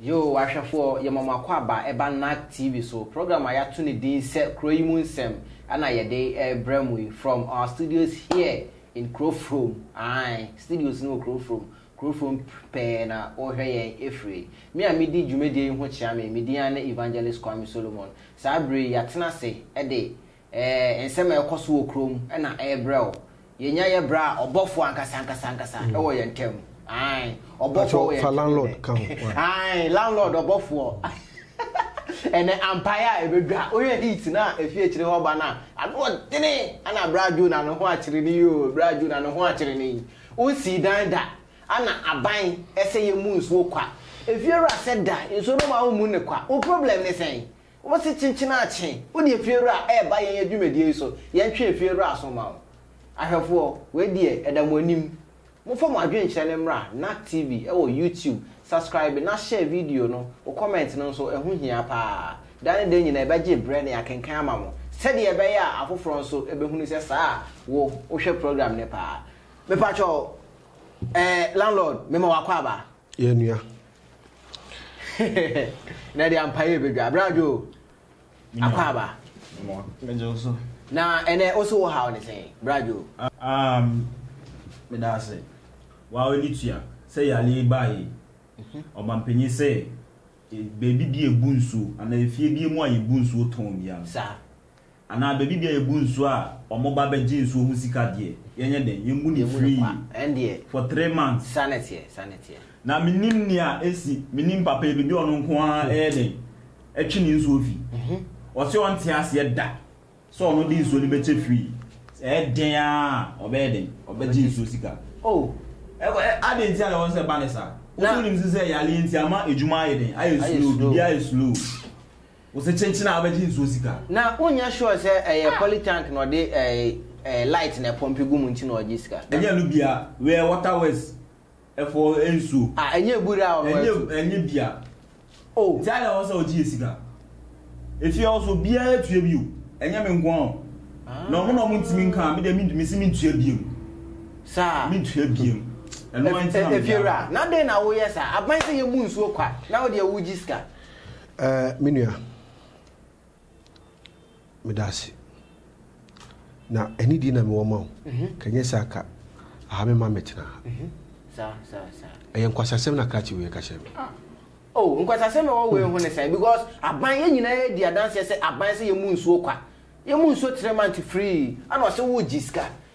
Yoo w'ahwɛfoɔ yɛma mo akwaaba ɛba NAC TV so. Program a yɛato ne din sɛ Kuro yi mu nsɛm ɛna yɛde ɛrebrɛ mo yi from our studios here in Kurofrom. Ae, studios no wɔ Kurofrom. Kurofrom pɛɛ na wɔhwɛ yɛn ɛfiri. Me a medi dwumadie yi ho kyea me, me din ara ne Evangelist Kwame Solomon. Saa berɛ yi yɛatena ase ɛde Ɛɛ, nsɛm a ɛrekɔ so wɔ kurom na ɛrebrɛ wo. Yɛnya yɛ berɛ a, ɔbɔfoɔ ankasa ankasa ankasa wɔ yɛn ntam. Ae, ɔbɔfoɔ wɔ yɛn ntam nnɛ. Ae, landlord ɔbɔfoɔ. Ɛnnɛ, ampaeɛ a ɛbɛdwa. Wohwɛ heat no a ɛfiri akyire hɔ ba no a, ano ɔdene. Ana berɛ a Jonah ne ho akyere no yi oo, berɛ a Jonah ne ho akyere no yi. Wonsii dan da. Ana aban sɛ yɛmmu nsuo kwa. Efiewura sɛ da nsuo no ma wommu no kwa. Wo problem ne sɛn? Wose kyenkyen akye. Wode efiewura a ɛreba yɛn adwumadie yi so, yɛntwe efiewura aso mma wo. Ahwɛfoɔ, wei deɛ ɛda mo anim. Momfa mo adwenkyerɛ no mmra Nack TV wɔ YouTube, subscribe na share video no, wo comment no nso, ɛho hia paa. Da ne da nyinaa yɛbɛgye brɛ na yɛakenkan ama mo sɛdeɛ ɛbɛyɛ a afoforɔ nso bɛhunu sɛ saa a wo wohwɛ program no paa. Mepakyɛw, eh, landlord, mema w'akwaaba. Yɛ nua. Na ɛde ampaeɛ bɛdwa berɛ adwo akɔ aba na ɛnɛ wo so wɔ haw ne sɛn berɛ adwo um, meda ase wa ɔni tua sɛ yale baa yi mhm. ɔbampanyin sɛ e, baabi bi ebu nsuo anaa efie bi mu a yɛbu nsuo tɔn bia no Anaa baabi bia yɛbu nsuo a ɔmo ba bɛ gye nsuo ho sika deɛ yɛnyɛ dɛn yɛmmu no free for three months na me nim nea ɛsi me nim papa yi bɛbi ɔno nko ara ɛyɛ dɛn ɛtwe ne nsuo fi ɔse ɔnte aseɛ da sɛ ɔno de nsuo no bɛkyɛ free sɛ ɛdɛn a ɔbɛyɛ dɛn ɔbɛgye nsuo sika oh adɛn nti a na wɔn sɛ ba ne saa wonim nso sɛ yaleɛ nti ama adwuma ayɛ dɛn ayɛ slow biribi ayɛ slow Wo se kyenkyen a wobɛgye nsuo sika. Na wonyɛ sure sɛ ɛyɛ poly tank na ɔde ɛɛ light na ɛpɔmpe gu mu nti na ɔgye sika. Ɛnyɛ ɛno bia, wei yɛ water works foɔ nsuo. Ah ɛnyɛ abura a ɔno atu. Ɛnyɛ ɛnyɛ bia. Oh. Nti adɛn wɔ sɛ ɔgye yɛ sika? Efie hɔ nso obiara tua bi o, ɛnyɛ me nko ara o. Na wɔn na wɔn ntumi nka a, me deɛ me se mentua biam. Saa. Mentua biam. Ɛno ara nti na me gyae. Efiewura, na dɛn na woyɛ saa? Aban sɛ yɛmmu nsuo kwa, na wo deɛ wogye sika. Eh me nua medase na anidie na mewɔ ma wo mhm. kanyɛ sɛ aka aha me ma mɛtena ha mhm. ɛyɛ nkwasasɛm na krakye wei ka kyerɛ me ah. oh nkwasasɛm na wɔwei ho ne sɛn because aban yɛ nyinaa yɛdi adanseɛ sɛ aban sɛ yɛmu nsuo kwa yɛmu nsuo three month free ana ɔsɛ wogye sika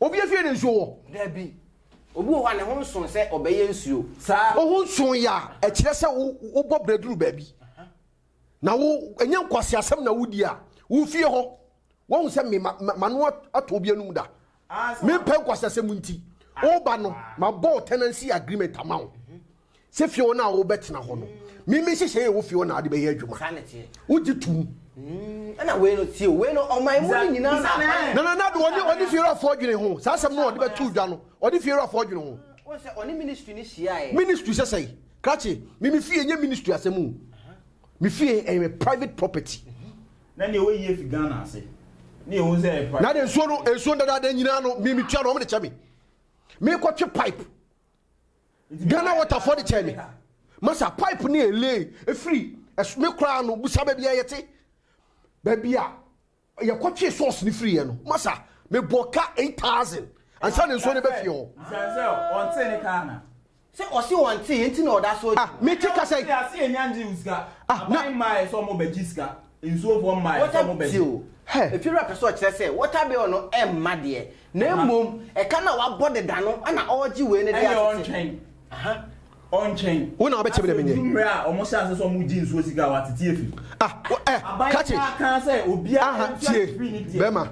Obia fie na nsuo wɔ? Dabi. Obi wɔ hɔ a ne ho nso sɛ ɔbɛyɛ nsuo. Saa. Wo ho nso yɛ a, ɛkyerɛ sɛ wo wobɔ brɛ duru baabi. Na wo, ɛnyɛ nkwaseasɛm na wo di a, wo fie hɔ, woahu sɛ me, ma, ma, mano atɔ obi anum da. Mempɛ nkwaseasɛm nti, woba no, mabɔ wo tenancy agreement ama wo. Sɛ fie hɔ no a wobɛtena hɔ no, me me nhyehyɛe yɛ wo fie hɔ na wode bɛyɛ adwuma. Saa na ɛteɛ. Wogye tom. Mm, ɛna wei no tie o, wei no ɔman mu no nyinaa na akwan. Nana Nado ɔne ɔne fie wurafoɔ adwene ho. Saa asɛm no ɔde bɛto dwa no, ɔne fie wurafoɔ adwene ho. Wɔn sɛ ɔne ministry no hyiaeɛ. Ministry sɛ sɛe? Krakye, me me fie nyɛ ministry asɛm o. Me fie ɛyɛ me private property. Na nea ɔyɛ yie fi Ghana ase. Ne yɛhu sɛ ɛyɛ private. Na de nsuo no, nsuo dadaada nyinaa no, me metua na wɔn de kyɛ me. Mekɔtwe pipe. Ghana water fɔ de kyɛɛ me ma sa pipe ne yɛ lay efiri ɛso me koraa no busa baabi a yɛ te baabi a yɛ kɔ twe sauce ne firi yɛ no ma sa me bɔ ka eight thousand ansa ne nsuo ne bɛ fie hɔ. Busa sɛ ɔntee ne ka ana. Sɛ ɔse wɔntee nti na ɔda so. Ah me te kasa yi. Ɔte ase enya ngye wo sika. Aban mma yɛ sɛ ɔmo bɛ gye sika. nsuofoɔ mmaeɛ sɛ wɔbɛgye. Water bill, Hɛ! Efie wura pɛ sɛ ɔkyerɛ sɛ water bill no mma deɛ, na mmom ɛka no a wabɔ deda no na ɔregye wei no de asete. Ɛnneɛ ɔntwɛn. Aha. Ɔntwɛn. Wo na wobɛkyɛ me na menyɛ. Afei ɔduru mmerɛ a wɔhyɛ aseɛ sɛ wɔregye nsuo sika a, watete afi. Ah, wo, ɛ, Aban ka kye. biara kaa sɛ obiara Aha, ntua tie, ne fee ne deɛ. bɛrima,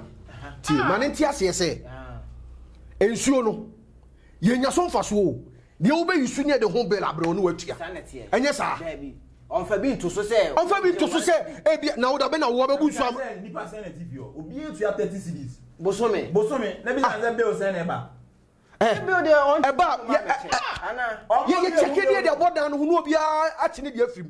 tie, ma no nte aseɛ sɛ, nsuo no, yɛnya so mfasoɔ o, Deɛ wo bɛ yi so nie de ho bill abrɛ wo ne watua. Saa na teɛ. Ɛnyɛ saa? Daabi. Ɔnfa bi nto so sɛ. Ɔnfa bi nto so sɛ ebia na wo da bɛ na wo abɛbu nsuo ama. Nipa sɛn na ɛte fie hɔ? Obiara tua thirty cedis. Bosome. Bosome. Na bi san sɛ bill sɛn na ɛba? Ɛɛ. Bill deɛ ɔnkyɛ. Ɛba. Yɛ yɛ check deɛ deɛ ɛbɔ dan no ho na obiara akye ne deɛ afiri mu.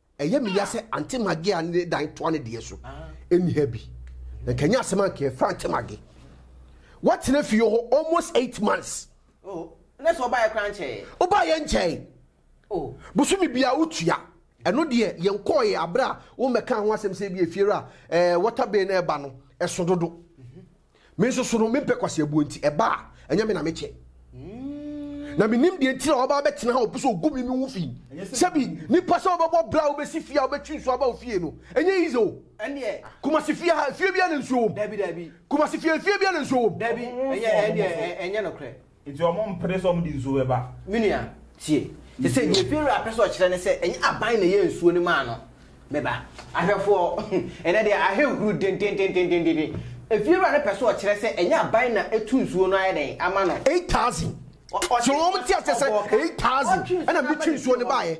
Ɛyɛ me ya sɛ Aunty Maggie a ne dan toa ne deɛ so nni ha bi. Na nka ɛnyɛ asɛm a nka yɛfrɛ Aunty Maggie. Watena fie hɔ almost eight months. Oh, na sɛ ɔbaeɛ koraa nkyɛeɛ? Ɔbaeɛ nkyɛe. Oh. Bosome biara wotua. Ɛno deɛ yɛnkɔeɛ aberɛ a wommɛkaa ho asɛm sɛ ebi efie ra eh, water bill no ɛba no ɛso dodo. Me nso so no, me mpɛ kwaseabuo nti, ɛba a, ɛnyɛ me na mekyɛ. Na menim deɛ nti na waba abɛtena ha a ɔpɛ sɛ ɔgu me me ho fi. Sɛbi, nipa sɛ wobɛbɔ bra a wobɛsi fie a wobɛtwe nsuo aba wo fie no, ɛnyɛ easy o. Ɛndeɛ. Kumasi fie ha, efie biara na nsuo wɔ mu. Dabi, dabi. Kumasi fie, efie biara na nsuo wɔ mu. Dabi, ɛnyɛ, ɛndeɛ, ɛnyɛ nokorɛ. Nti wɔn mpere sɛ wɔn de nsuo bɛba. Me nua, tie. Sɛsɛ deɛ Farao apɛ sɛ ɔkyerɛ ne sɛ, ɛnyɛ aban na ɛyɛ nsuo no maa no. Me ba, ahwɛfoɔ, ɛnnɛ deɛ ahenhuro dendendendendenden. Farao no pɛ sɛ ɔkyerɛ sɛ ɛnyɛ aban na ɛtu nsuo no ayɛ dɛn ama no. Eight thousand. Ɔ, ɔtwe nsuo no, ɔbɔɔ ka. Eight thousand. Ɔtwe nsuo no ɛna aba mɛtwe nsuo no nsuo no aba. baeɛ.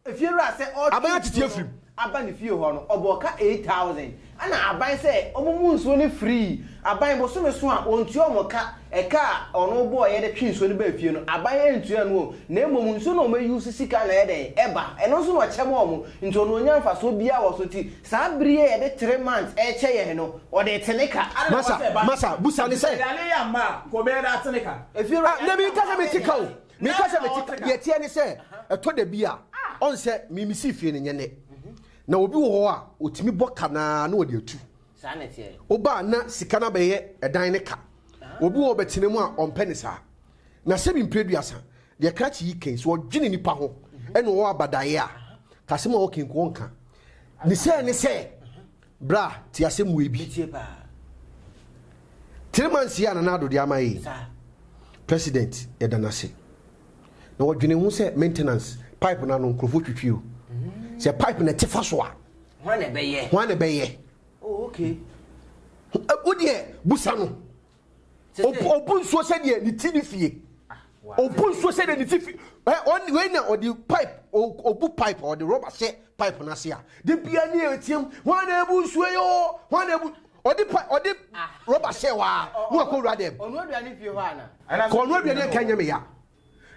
Efiewura sɛ ɔretwe nsuo no aba ne fie hɔ no, ɔbɔɔ ka eight thousand ɛna aban sɛ wɔmmu nsuo no free. Aban bosome so a, wɔntua wɔn ka. Ɛka a ɔno bɔeɛ de twe nsuo no baa fie no, aban antua no o, na mmom nsuo no a wɔuse sika na ɛyɛ dɛn? Ɛba. Ɛno nso na wɔkyɛ ma wɔn. Nti ɔno ɔnnya mfasoɔ biara wɔ so. Nti saa bere yi a yɛde three months rekyɛ yɛn no, ɔde rete ne ka. Adɛn na wɔsɛ ɛba no ka? Nti sɛ yɛanne yɛn amma a, nka ɔbɛyɛ dɛ ate ne ka. Efiewura yɛanne yɛn amma a, ɔbɛyɛ dɛ ate ne ka. Meka sɛ mete ka, deɛ ɛteɛ ne sɛ ɛtɔ da bi a, ɔn sɛ me mesii fie no nyɛ nnɛ, na obi wɔ hɔ a ɔtumi bɔ ka no ara na ɔde atu. Woba a na sika no abɛyɛ ɛdan no ka. Obi wɔ hɔ a ɔbɛtena mu a ɔmpɛ no saa. Na sɛ me mprɛ aduasa, deɛ krakye yi kɛn, sɛ ɔdwene nnipa ho na ɔwɔ abadaeɛ a, ka asɛm a ɔka yi nko ɔnka. Ne sɛɛ ne sɛ, Bra, tse asɛm wei bi. Metsie paa. Three months yi a Nana Addo de ama yɛ yi, President, yɛda no ase. Na wɔdwene ho sɛ maintenance, pipe no ano, nkurɔfoɔ twitwi o. Sɛ pipe no ɛte fa so a. Hwan na ɛbɛyɛ? Hwan na ɛbɛyɛ? Oh, okay. Wodeɛ, busa no. Obu nsuo sɛdeɛ ne ti ne fie. Obu nsuo sɛdeɛ ne ti fi. Ɔne wei na ɔde pipe obu pipe ɔde rɔba hyɛ pipe no ase a. De bia ne ɛteam wɔn na ebu nsuo yi o wɔn na ebu ɔde pa ɔde rɔba hyɛ hɔ a na wakɔ wura dɛm. Ɔno aduane fie hɔ ana. Kɔ ɔno aduane nka nyɛ me ya.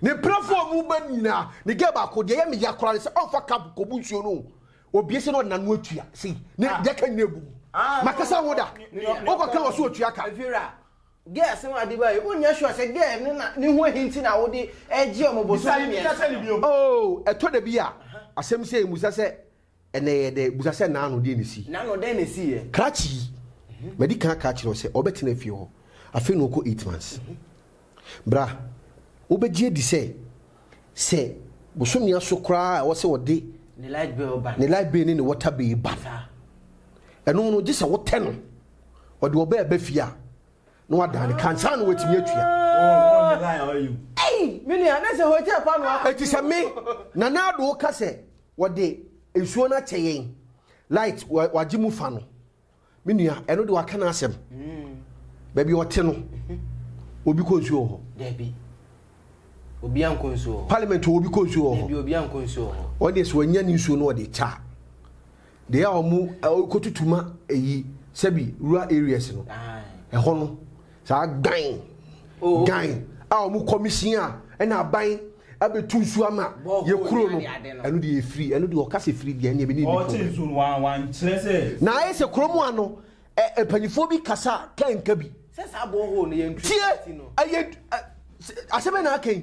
Ne brɛfo a ɔmo ba nyinaa, ne girl baako, deɛ ɛyɛ me ya koraa ne sɛ ɔmfa cup kɔbu nsuo no o. Obie sɛ na ɔde n'ano atua, sei, ne deɛ aka nyinaa abu mu. Makasa ho da, wokɔka wɔ so ɔtua ka. Afira, girl asɛm a ɔde baeɛ yi, wonyɛ sure sɛ girl no na ne ho ahi nti na wode regye ɔmo bosome mmiɛnsa no? Oh, ɛtɔ da bi a asɛm sei, musa sɛ, Ɛnna ɛyɛ dɛ. Bisa sɛ, Naano, deɛn na ɛsii? Naano, deɛn na ɛsiiɛ? Krakye yi, m'adi kan aka akyerɛ wo sɛ ɔbɛtena fie hɔ. Afei na ɔkɔ eight months. Bra, wobɛgye adi sɛ, sɛ bosome aso koraa a ɛwɔ sɛ ɔde Ne light bill ba no. ne light bill ne ne water bill ba no, Saa. ɛno no, gye sɛ wotɛ no. Ɔde ɔbɛ reba fie a, na wadan ne ka ansa na watumi atua. Ei! Me nua, na ɛsɛ hotel paanoo akɔ. Enti sɛ me, Nana Addo, ka sɛ Wɔde nsuo no akyɛ yɛn. Light wagye mu fa no. Me nua, ɛno de waka n'asɛm. Baabi ɔte no, obi kɔ nsuo wɔ hɔ. Dabi. Obi ankɔ nsuo wɔ hɔ. Parliament wɔ obi kɔ nsuo wɔ hɔ. Dabi obi ankɔ nsuo wɔ hɔ. Wɔn deɛ sɛ wɔnya ne nsuo no wɔde kya. Deɛ a wɔn kɔtutuma ayi sɛbi rural areas no, ɛhɔ no. Saa dan dan a wɔn kɔmisin a ɛna aban abɛtu nsu ama yɛ kuro no ɛno deɛ ɛfiri ɛno deɛ ɔka sɛ firi deɛ ɛneɛ bɛne na ayɛ sɛ kuro mu ano mpanyifoɔ bi kasa ka nka bi tie ɛyɛ asɛm na aka yi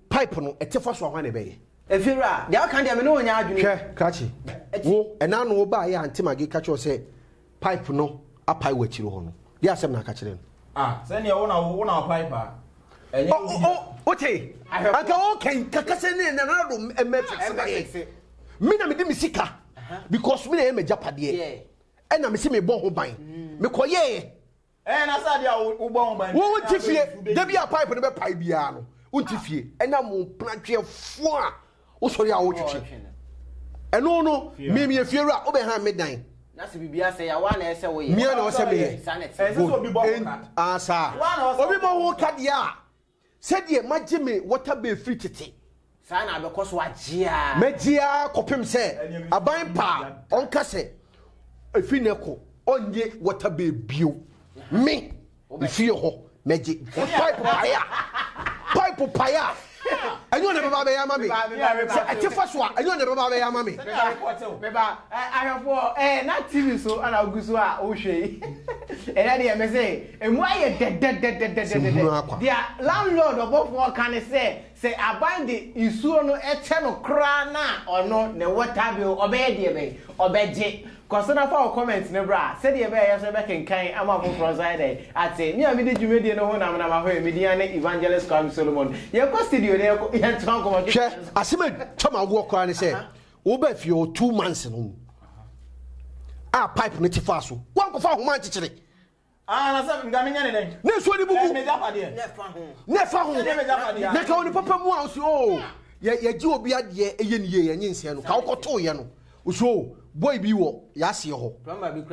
Pipe no, ɛte fa soa hwan na ɛbɛyɛ? Efeero, Ah, deɛ woka no deɛ me ne wo nyɛ adwene o. Hwɛ, krakye, wo, ɛnna ano wo baa yɛ a Auntie Maggie ka kyerɛɛ wo sɛ pipe no apae wɔ akyire hɔ no, deɛ asɛm na aka kyerɛ no? Ah, sɛdeɛ wo na wo, wo na wo pipe a, ɛnyɛ wo dea. Oh, oh, wote? Anka woka yi, ka, ka sɛ ne Nana Ado mmɛ fixe ma yɛn. Me na mede me sika, because me na ɛyɛ m'agyapadeɛ, ɛnna mese mebɔ ho ban, mekɔyɛeɛ. Wo nte fie da bi a pipe no bɛpae biara no wo nte fie ɛnam wo mpena tweɛ fo a wo sɔre a wo twetwe ɛno no mie mie fie wura wo bɛ han me dan na se bibi asɛ ya wa na ɛsɛ wo yɛ mia na ɔsɛ me yɛ good and asa obi ma ho ka deɛ a. Sɛdeɛ magye me wɔtabɛ firi tete. Saa na abɛkɔ so agye ara. Mɛgye ara kɔpem sɛ aban pa a. Ɔnka sɛ, Ɛfiri nnɛ kɔ ɔnnye wɔtabɛ bio. Me, mefie hɔ, mɛgye. Pipe paeɛ a, pipe paeɛ a, ɛnyɛ ɔna ɛbɛba abɛyɛ ama me. Sɛ ɛte fa so a, ɛnyɛ ɔna ɛbɛba abɛyɛ ama me. Me ba, ahwɛfoɔ, ɛɛ na TV so na wogu so a wohwɛ yi? Ɛnɛ deɛ mese. Emu ayɛ dɛdɛdɛdɛdɛdɛdɛdɛ. Deɛ landlord ɔbɔfoɔ ka ne sɛ, sɛ aban de nsuo no kyɛ no koraa no a ɔno ne water bill ɔbɛyɛ deɛ bɛn? Ɔbɛgye. Kɔ so na fa wo comment no bra sɛdeɛ ɛbɛyɛ a yɛn nso yɛbɛkenkan ama afoforɔ nso ayɛ dɛn? Ate. Me a medi dwumadie no ho nam nam ahoɛ yi, me din ane Evangelist Kwame Solomon. Yɛnkɔ studio na yɛnkɔ yɛntoa nkɔmmɔ ketewa no so. Hwɛ, asɛm a ɛtwa m'awoɔ koraa ne sɛ, wobaa fie hɔ two months no mu a pipe no te faa so, woankɔfa ahoma ankyekyere. Ah, na sɛ nka menyɛ ne dɛn? Na nsuo no bubu. M'agyapadeɛ. Na ɛfa ho. Na ɛfa ho. Ɛnyɛ m'agyapadeɛ. Na ka wo ne papa mu a ɔsi o oh, yɛgye obi adeɛ ɛyɛ ne yie yɛnye nsɛn no ka wokɔtoo yɛ no ɔsi o oh, boy bi wɔ yɛaseɛ hɔ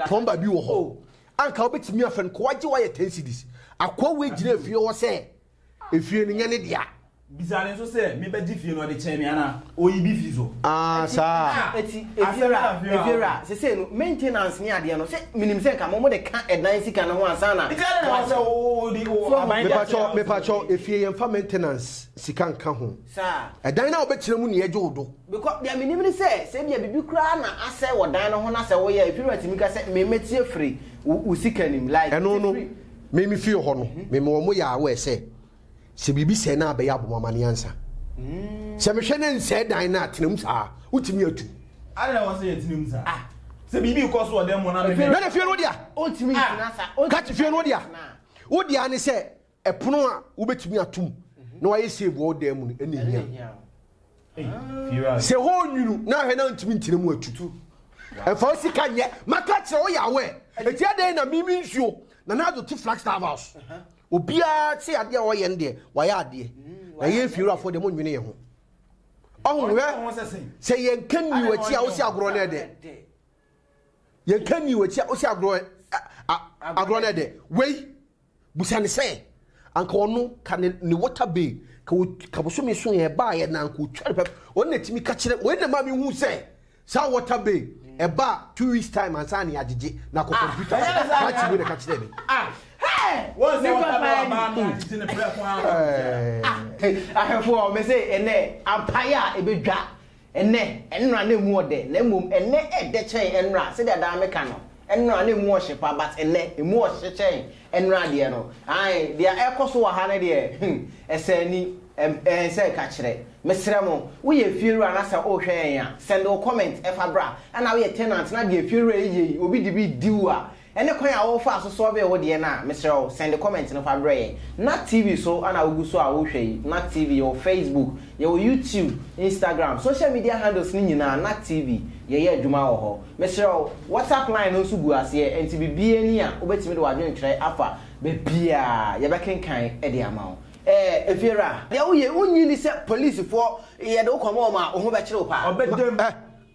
plɔmba bi wɔ hɔ oh. anka wobɛtumi afɛ no kɔwagye woayɛ 10 cities akoa wei gyina afie hɔ sɛ Efie no nyɛ ne dea. Bisaa no nso sɛ, Mebɛgye fie no de kyɛn me anaa? Oyi bi fi so. Aah, saa. Eti, Efiewura, Efiewura, sesei no, maintenance ne adeɛ no, se menim sɛ nka mo, mo de ka ɛdan sika no ho ansa na. Nti adɛn na ɛwɔ sɛ wo de wo aban de akyɛ Mepakyɛw, mepakyɛw, Efie, yɛmfa maintenance sika nka ho. Saa. Ɛdan no a wobɛtena mu na yɛgye wo do. Because, deɛ menim ne sɛ, sɛ ebia biribi koraa na asɛe wɔ dan no ho na sɛ woyɛ a, Efiewura tumi ka sɛ, Me, mɛtie firi wo, wo sika no mu, like, Ɛno no. Me me fie hɔ no mema wɔn mo yɛ aware sɛ sɛ biribi sɛe no abɛyɛ abɔ mo amanneɛ ansa sɛ mehwɛ ne nsɛe dan no a tena mu saa wotumi atu Adɛn na wɔsɛ yɛtena mu saa? Ah. Sɛ biribi kɔ so wɔ dan mu na me Na na fie no wo dea Ontumi Ah. ntena sa Ka ontumi fie no wo dea ntena wo dea ne sɛ ɛpono a wobɛtumi atom na wayɛ save wɔ wo dan mu no ɛna ɛhia Ɛna ɛhia wo. Sɛ hɔ nwunu na ahwɛ na ntumi ntina mu atu. Ɛmfa wo sika nyɛ. Maka kyerɛ wo yɛ awɛ. Eti adɛn na mimi nsuo na Nado te Flagstaff house. Obiara te adeɛ a ɔyɛ no deɛ wayɛ adeɛ. Na yɛn efiewurafoɔ deɛ monnwene yɛn ho. Ɔho hwɛ sɛ yɛnka nnii w'akyi a wosi agorɔ no ɛdɛ. Yɛnka nnii w'akyi a wosi agorɔ agorɔ no ɛdɛ. Wei. Bisa no sɛ, anka ɔno, ka ne, ne water bay, ka, ka bosome so yɛ ɛbaeɛ na anka ɔtwa no pɛp. Ɔno na ɛtumi ka kyerɛ, wei na ɛma me hu sɛ, saa water bay, ɛba two weeks time ansa na yɛagyegye, na akɔ computer so. Makyi wei na ɛka kyerɛ me. Ah, hey! Wɔn sɛ water bay wɔ baa no agyegye no prɛko ara. Ahwɛfoɔ, me se ɛnɛ, ampaeɛ a ɛbɛdwa Ɛnnɛ, ɛnora na ɛmu ɔdɛ, na mmom ɛnnɛ ɛdɛ kyɛn ɛnora, sɛdeɛ daa me ka no, ɛnora na ɛmu ɔhye pa, but ɛnnɛ, ɛmu ɔhye kyɛn ɛnora deɛ no, ae, deɛ ɛrekɔ so wɔ ha no deɛ, hmm, ɛsɛ ani, ɛm, ɛnsɛ ɛka kyerɛ. Mesrɛ mo, woyɛ efiewura na sɛ worehwɛ yɛn a, send wo comment, ɛfa bra, ɛna woyɛ tenant na deɛ efiewura yi yɛ yi, obi de bi redi wo a, Ɛne kwan a wo faa so solvee wo deɛ no a, mesrɛ wo send comment no fa brɛ yɛn. Na TV so na wo gu so a wo hwɛ yi, na TV, yɛwɔ Facebook, yɛwɔ YouTube, Instagram, social media handles no nyinaa na TV, yɛyɛ adwuma wɔ hɔ. Mesrɛ wo, WhatsApp line no nso gu aseɛ, ɛnti biribiara ni a wo bɛtumi de w'adwene twerɛ afa baabiara a, yɛbɛ kenkan de ama wo. Ɛɛ Efiewura, deɛ wo yɛ, wo nyi ni sɛ Police foɔ, yɛde wo kɔma wɔn a, wo ho bɛkyere wo paa. Ɔbɛda mu.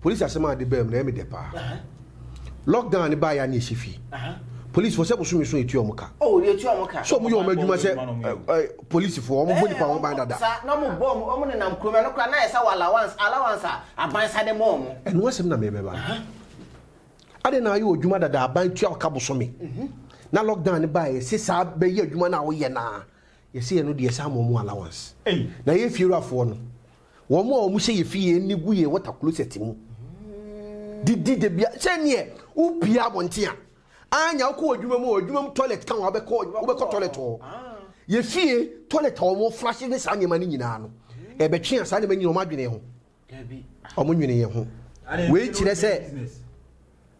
Police asɛm a de baa mu no ɛyɛ me dɛ paa. Lock down no baeɛ a na yɛhyɛ fie. Police foɔ sɛ bosome so yɛtua wɔn ka. Oh yɛtua wɔn ka. So wɔn yɛ wɔn adwuma sɛ police foɔ wɔn bɔ nipa ho ban dada. Saa na wɔn bɔ wɔn wɔn nenam kurom ɛno koraa na ayɛ sɛ wɔ allowance allowance a aban sa de ma wɔn. Ɛno asɛm na mɛbɛba no. Adɛn na ayɛ odwuma dada aban tua ɔka bosome. Mhm. Na lock down no baeɛ yɛse saa bɛyɛ adwuma no a woyɛ no a yɛse ɛno deɛ yɛsan ma wɔn allowance. Ei. Na yɛn fiewura foɔ no. Wɔn a wɔhyɛ yɛn fie yɛn ani gu yɛn water closet mu didi da bia sɛ neɛ wopie abɔnten a anya wokɔ w'adwuma mu adwuma mu toilet ka wabɛkɔ wobɛkɔ toilet hɔ yɛ fie toilet a wɔn flashes ne saa nneɛma no nyinaa no ɛbɛtwe a saa nneɛma nyinaa wɔn adwene ho wɔn nwene yɛn ho wei kyerɛ sɛ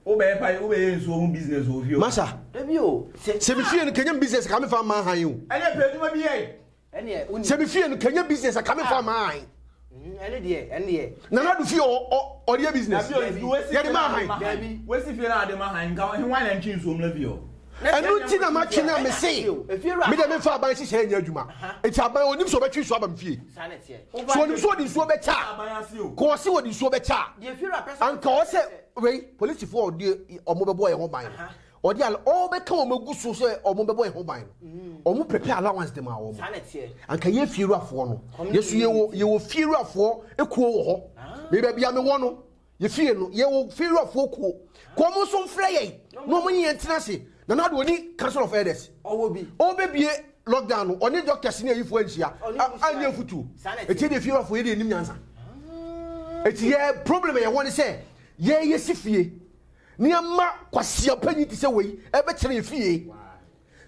wobɛyɛ pa wobɛyɛ nsuo ho business wɔ fie masa sɛ mefie no kanyam business ka mefa mma han o ɛyɛ pɛ adwuma bi yɛ sɛ me fie no kanya business a kame fa maa han nana do fie ɔdeɛ business yɛde maa han ɛno nti na matwe no a mese mede mefa aban hyehyɛ anya adwuma ɛti aban ɔnim sɛ ɔbɛtwe nsuo aba me fie sɛ ɔnim sɛ ɔde nsuo bɛkyɛ a kɔɔ se wɔde nsuo bɛkyɛ a anka ɔ sɛ wei polisifoɔ ɔde ɔmo bɛbɔ yɛ ho ban no Wɔde al ɔɔ bɛka wɔn agu so sɛ wɔn bɛbɔ yɛn ho ban no, mm. wɔn prepare allowance de ma wɔn. Anka yɛ fiewurafoɔ no, yɛsu yɛwɔ yɛwɔ fiewurafoɔ ekuo wɔ hɔ. Mɛ ah. baabi a mewɔ no, yɛfie no yɛwɔ fiewurafoɔ kuo. Kɔn mo nso mfrɛ yɛn na wɔn nyɛ ntena se na na de oni council of elders. Ɔwɔ bi. Ɔbɛbie lockdown no ɔne doctors ne ayifoɔ anhyia anyɛ mfutuo. Ɛti deɛ fiewurafoɔ yɛ deɛ anim nyansa. Ɛti ah. yɛ problem yɛwɔ ne sɛ yɛyɛ si fie. Nneɛma kwaseapɛ nyi te sɛ wei ɛbɛkyerɛ yɛ fie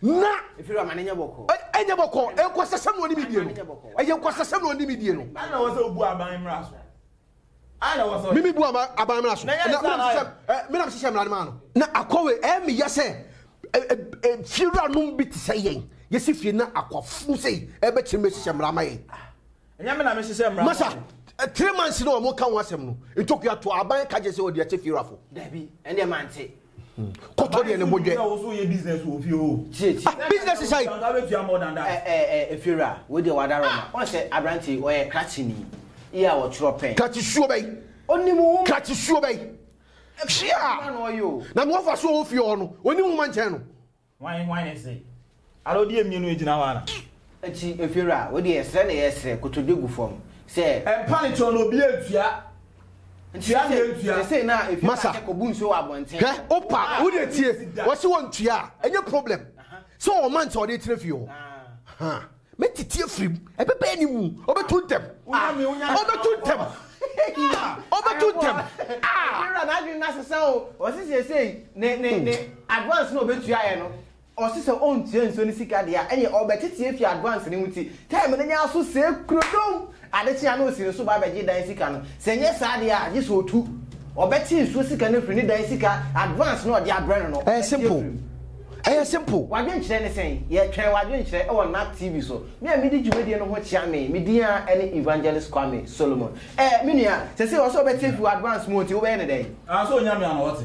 na ɛnyɛ bɔkɔ nkwasasɛm na ɔnim die no ɛyɛ nkwasasɛm na ɔnim die no mimi bu aban mmara so menam hyehyɛ mmara no maa no na akɔwe ɛmeyɛ sɛ fiewuranom bi te sɛ yɛn yɛsi fie na akwafunu sei ɛbɛkyerɛ mɛhyehyɛ mmara ma yɛn Masa, three months no a wɔka ho asɛm no, ntokua to a, aban ka gye sɛ wɔde akyɛ fiewurafo. Dabi, ɛndeɛ mante. Kɔtɔ deɛ ne bo dwɛ. Ah, business is high. Ɛɛ, fiewura, wei deɛ wada rɔma. Wɔn sɛ aberante yi, ɔyɛ krakye ni. Yi a wɔtwerɛ pɛn. Krakye suo bɛyi. Ɔnim nwoma. Krakye suo bɛyi. Hwia! Na na wɔfa so wɔ fie hɔ no, ɔnim nwoma nkyɛn no. Hwan hwan ne se? Ara odi amie no egyina hɔ ara. Akyi efir a, wo deɛ srɛ na yɛ srɛ, kotodwe gu fam sɛ. Mpa ne kyɛw na obi antua. Nti sesei sesei na efir a sɛ kɔbu nsuo wɔ abɔnten. Hwɛ wo pa wo deɛ tie, ɔse wɔntua a ɛnyɛ problem sɛ ɔma nti ɔde tena fie hɔ. Mɛtete afiri mu, ɛbɛbɛn ne mu, ɔbɛtu ntɛm. Ɔbɛtu ntɛm. Ɔbɛtu ntɛm. Ewura n'adwene no asesa o. Ɔsi seesei ne ne ne advance na ɔbɛtua yɛ no. Ɔsi sɛ ɔntua nsuo ne sika deɛ a, ɛneɛ ɔbɛtete afiri advance no mu ti. Time no nyɛ aso sɛɛ kurodom. Ade kye a na ɔsi ne so ba bɛgye dan sika no. Sɛ ɛnyɛ saa deɛ a, gye sɛ ɔtu. Ɔbɛkye nsuo sika no afiri ne dan sika advance no a ɔde abrɛ no no. Ɛyɛ simple. Ɛyɛ simple. W'adwenkyerɛ ne sɛn? Yɛtwɛn w'adwenkyerɛ wɔ NAC TV so. Me a medi dwumadie no ho kyea me, me din ara ne Evangelist Kwame Solomon. Ɛɛ, me nua, seesei ɔsɛ ɔbɛkye afiri w'advance mu nti wobɛyɛ no dɛn? Aa, sɛ ɔnya me a na ɔte.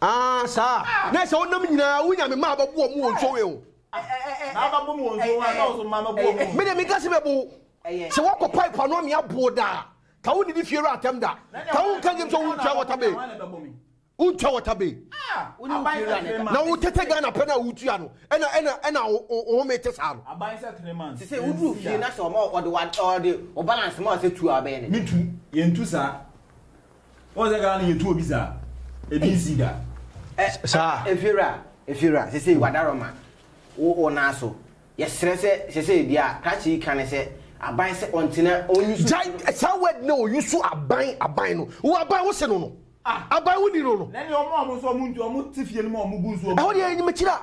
Aa saa a, na ɛsɛ wonam nyinaa wo Nyame ma abɛbo ɔmo wɔ nsuo wei ho. Me deɛ menka se bɛbo wo, sɛ woakɔ pipe ano amee abo wo daa, ka wo nnidi fie wura atɛm da, ka wo nka game sɛ wo ntwa water bay, wo ntwa water bay, na wo tete Ghana pɛ na wo tua no, ɛna ɛna ɛna wo home te saa no. Sese wo duru fie na sɛ ɔma ɔde wa ɔde o balance ma sɛ tu a bɛyɛ ne. Me tu, yɛntu saa. Wɔn sɛ Ghana yɛ tu obi saa. Ebi nsi da. Ɛ saa. Efiewura efiewura sese wadarɔ ma wo wo nan so. Yɛsrɛ sɛ sese ebi a krakye yi ka ne sɛ aban sɛ ɔntena ɔnyusu. Gyae saa word no ɔnyusu aban aban no wo aban wo se no no aban wo ni no no. Nani ɔmo a ɔmo sɛ ɔmo nti ɔmo te fie no ma ɔmo gu nsuo mu. Ɛhɔ deɛ ɛyɛ nyimekyire a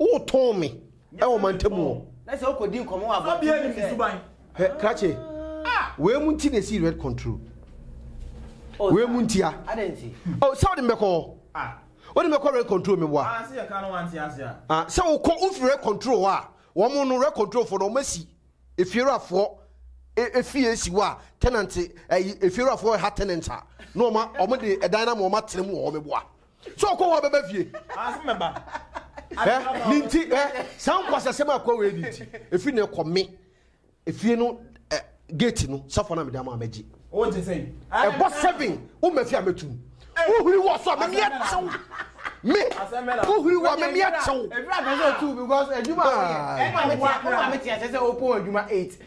Wotɔn me wɔ mantam mu hɔ. Na sɛ wokɔdi nkɔmmɔ wɔ abɔnten mu sɛ. Hwɛ, krakye. Wei mu nti na ɛsii red control. Wei mu ntia. Adɛn nti? O, sɛ wode me bɛkɔ hɔ. Wode me bɛkɔ red control me boa. Sɛ wokɔ, wofiri red control hɔ a, wɔn no, red control foɔ no, wɔn asi efiewurafoɔ efie asi hɔ a, tenant, ɛyi, efiewurafoɔ ɛha tenant a, na wɔn, wɔn de ɛdan no ama wɔn atena mu wɔ hɔ me boa. So ɔkɔ hɔ bɛba fie? Ase mɛba. Ɛ ne nti ɛ saa nkwasasɛm a kɔ wei ne nti efi ne kɔ me efie no ɛ gate no safo na mede ama mɛgye. O gye sɛn? Ɛbɔ seven wo mɛfi a mɛtum. Wo huri wɔ so a mɛmi ɛtew. Me wo huri wɔ a mɛmi ɛtew. Ebi a mɛsɛ otu because adwuma a woyɛ. Ɛna wo maame te ase sɛ opon adwuma eight.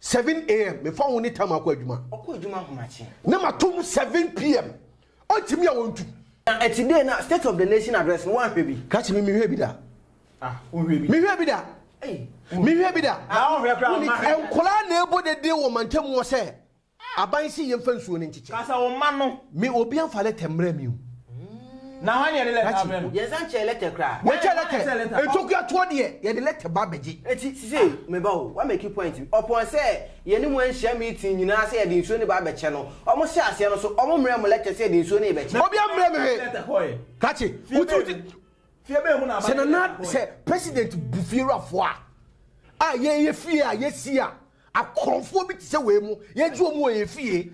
Seven AM, mefa wo ne Tama kɔ adwuma. Ɔkɔ adwuma ahomakye. Na mato mu seven PM. Ɔntumi a ɔntu. Na ɛte dɛn na State of the Nation Address no woanhwɛ bi? Ka kyerɛ me, menhwɛɛ bi da. Ah, wonhwɛɛ bi? Menhwɛɛ bi da. Ei, wonhwɛɛ. Menhwɛɛ bi da. Ah, wonhwɛɛ koraa, mma hwɛ. Nkwadaa na ɛbɔ dede wɔ mantam hɔ sɛ, Aban se yɛmfa nsuo no nkyekyɛ. Kasa, wo mma no. Me, obi amfa lɛtɛ mmrɛɛ me o. Wokyɛ lɛtɛ ntokua toɔ deɛ yɛde lɛtɛ ba bɛgye. Eti sisei me ba o wa make point bi ɔpɔn sɛ yɛne mo anhyia meeting nyinaa sɛ yɛde nsuo no ba abɛkyɛ no ɔmo hyɛ aseɛ no so ɔmo mmerɛ mo lɛtɛ sɛ yɛde nsuo no rebɛkyɛ. Obi ammrɛ me hwee. Kakye wote wote sɛ nana sɛ president bu fiewurafoɔ a a yɛyɛ fie a yɛsi a akorɔmfoɔ bi te sɛ wei mo yɛgye ɔmo wɔ yɛn fie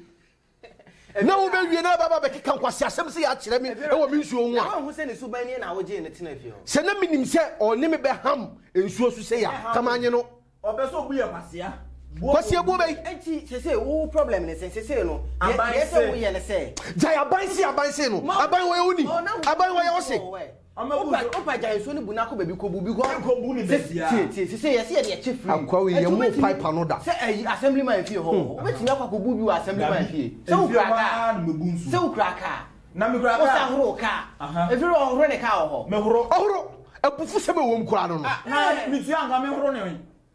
Na wobewie na wabɛba abɛkeka nkwaseasɛm sɛi akyerɛ me wɔ me nsuo ho a. Sɛ na menim sɛ ɔne me bɛham nsuo so sɛi a, ka manye no. Kwasia buo bɛ yi. Gyae abansee abansee no. Aban wɔyɛ wo ni. Aban wɔyɛ wo se. Wopa gya nsuo no bu no akɔ baabi kɔbu bi kɔ. Ɛnkɔ bu no baabi a. Tie tie sisi yɛsi yɛde ɛkyɛ free. Akwa yi yɛn mu pipe ano da. Sɛ ɛyi assembly man fie hɔ hɔ wobɛtumi akɔ akɔbu bi wɔ assembly man fie. Sɛ wokura kaa sɛ wokura kaa. Na mekura kaa. Wosa horo kaa. Ɛfiri hɔ ɔhoro ne kaa wɔ hɔ. Mehoro. Ɔhoro. Abufu sɛm ɛwɔ mu koraa no no. Ah na metua nka mehoro ne.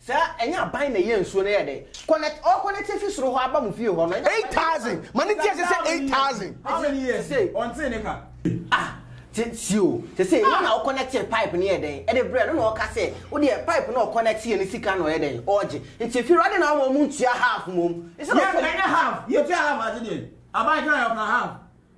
Sɛ ɛnyɛ aban na ɛyɛ nsuo no yɛ dɛn? Connect ɔ connect efi soro hɔ aba mo fie hɔ no. Eight thousand ma ne ntease sɛ eight thousand. How many years ni? Ɔntee ne ka. Ah te tie o sese wo na wo connectee pipe no yɛ dɛn ɛde brɛ no na ɔka sɛ wo deɛ pipe no ɔconnect yɛ no sika na ɔyɛ dɛn ɔɔgye nti efie hɔ ɛde na ɔma ɔmo ntua half mmom. Yɛ nka ɛnyɛ half yɛ tua half ade deɛ aban kan yɛ ɔka half.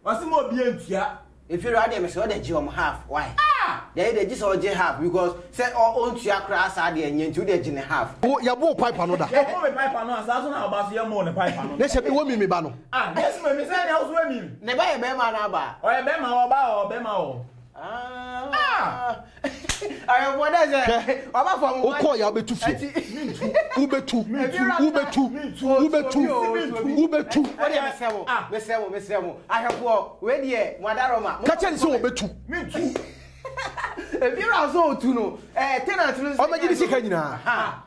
Ɔse ma obia ntua. Inferior adeɛ mesɛ ɔdɛ gye wɔn half why? Ah! Deɛ ɛyɛ dɛ gye sɛ ɔgye half because sɛ ɔ ɔntua koraa saa deɛ ɛnyɛ nti wodɛ gye ne half. Wo yɛ boo pipe ano da. Yɛ boo me pipe ano ansa so na ɔba so yɛ moo ne pipe ano. Nɛsɛ me wo mimi ba no. Ah nɛsɛ me me sɛ nea wo so wɛ mimi. Ne ba yɛ bɛɛma anaa baa. Ɔyɛ bɛɛma ɔɔ baa ɔɔ bɛɛma ɔɔ. wokɔ ya wobɛtu fie wobɛtu wobɛtu wobɛtu wobɛtu ka kyɛ ne sɛ wɔbɛtu ebi ra so otu no eh tenant no ɔmɛgye ne sika nyinaa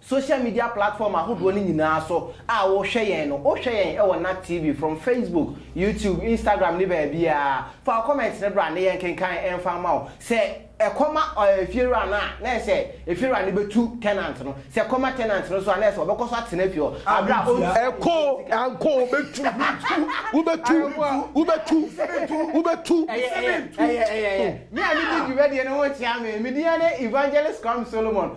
Social media platform ahodoɔ no nyinaa so a wohwɛ yɛn no, wohwɛ yɛn wɔ Nat TV from Facebook, YouTube, Instagram ne baabiara. Fa wo comment no bra na yɛnkenkan mfa mma wo. Sɛ ɛkɔm a efiewura no a, na ɛsɛ efiewura no bɛtu tenant no. Sɛ ɛkɔm a tenant no so a, na ɛsɛ ɔbɛkɔ so atena fie hɔ berɛ a ɔntua. Ɛkɔ ankɔ wobɛtu, wobɛtu, wobɛtu, wobɛtu. Ɛyɛ, ɛyɛ, ɛyɛ, ɛyɛ, ɛyɛ. Me a medi dwumadie no ho kyea me. Me din ara ne Evangelist Kwame Solomon.